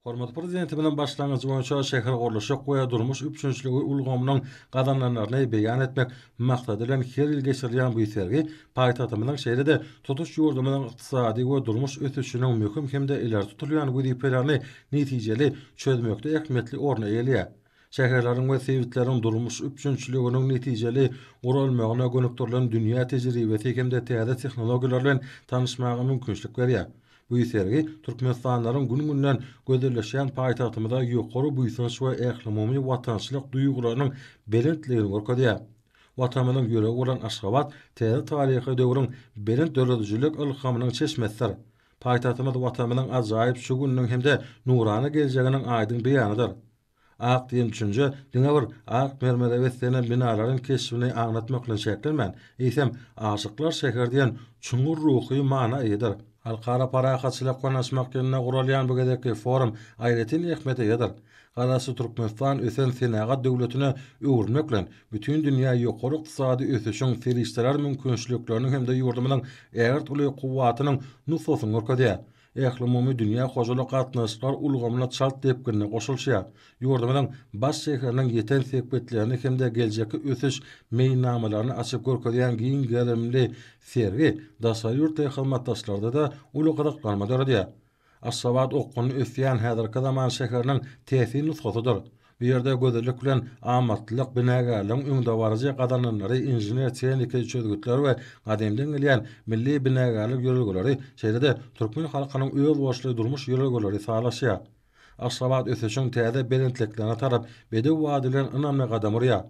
Hormatly Prezidentimiziň başlangyjy boýunça şähergurluşyk we durmuş üpjünçiligi ulgamynyň gazanylanlaryny beýan etmek maksady bilen her ýyl geçirilýän bu sergi paýtagtymyzyň şeýle-de tutuş ýurdumyzyň ykdysady we durmuş ösüşiniň möhüm hem-de ileri tutulýan wezipelerini netijeli çözmekde ähmiýetli orny eýeleýär. Şäherleriň we sebitleriň durmuş üpjünçiliginiň netijeli guralmagyna gönükdirilen dünýä tejribesi hem-de täze tehnologiýalar bilen tanyşmaga mümkinçilik berýär. Bu sergi türkmenistanlylaryň gün-günden gözelleşýän paýtagtymyza ýokary buýsanç we ählumumy watançylyk duýgularynyň belentligini görkezýär. Watanymyzyň ýüregi bolan Aşgabat täze taryhy döwrüň belent döredijilik ylhamynyň çeşmesidir. Paýtagtymyz Watanymyzyň ajaýyp şu gününiň hem-de nurana geljeginiň aýdyň beýanydyr. Ak diýen düşünje diňe bir ak mermere beslenen binalaryň keşbini aňlatmak bilen çäklenmän, eýsem, Aşyklar şäheri diýen çuňňur ruhy mana eýedir. Halkara parahatçylyk konuşmak ýylynda guralýan bu gezekki forum aýratyn ähmiýete eýedir. Garaşsyz Türkmenistan ösen senagat döwletine öwrülmek bilen, bütin dünýä ýokary ykdysady ösüşiň serişdeler mümkinçilikleriniň hem-de ýurdumyzyň ägirt uly kuwwatynyň nusgasyny görkezýär. ählumumy dünýä hojalyk gatnaşyklar ulgamyna çalt depginde goşulyşýar. Ýurdumyzyň baş şäheriniň ýeten sepgitlerini hem-de geljekki ösüş meýilnamalaryny açyp görkezýän giň gerimli sergi daşary ýurtly hyzmatdaşlarda-da uly gyzyklanma döredýär. Aşgabat okgunly ösýän häzirki zaman şäheriniň täsin nusgasydyr. Bu ýerde gözellik bilen amatlylyk, binagärligiň öňdebaryjy gazananlary, inžener-tehniki çözgütler we gadymdan gelýän milli binagärlik ýörelgeleri, şeýle-de türkmen halkynyň özboluşly durmuş ýörelgeleri sazlaşýar. Aşgabat ösüşiň täze belentliklerine tarap bedew wady bilen ynamly gadam urýar.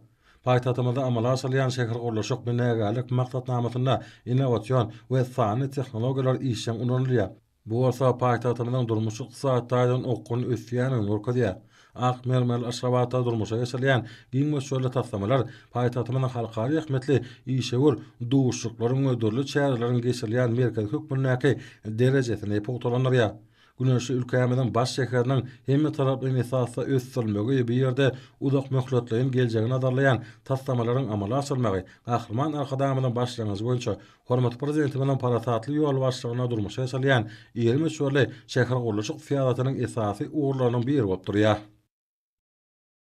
Paýtagtymyzda amala aşyrylýan şähergurluşyk binagärlik maksatnamasynda innowasion we sanly tehnologiýalar işjeň ulanylýar. Bu bolsa paýtagtymyzyň durmuş-ykdysady taýdan okgunly ösýändigini görkezýär. Ak mermerli Aşgabatda durmuşa geçirilýän giň möçberli taslamalar paýtagtymyzyň halkara ähmiýetli işewür duşuşyklaryň we dürli çäreleriň geçirilýän merkezi hökmündäki derejesini pugtalandyrýar. Güneşli ülkämiziň baş şäheriniň hemmetaraplaýyn esasda ösdürilmegi we bu ýerde uzakmöhletleýin geljegi nazarlaýan taslamalaryň amala aşyrylmagy Gahryman Arkadagymyzyň başlangyjy boýunça Hormatly Prezidentimiziň parasatly ýol başlygyna durmuşa geçirilýän iri möçberli şähergurluşyk syýasatynyň esasy ugurlarynyň biri bolup durýar.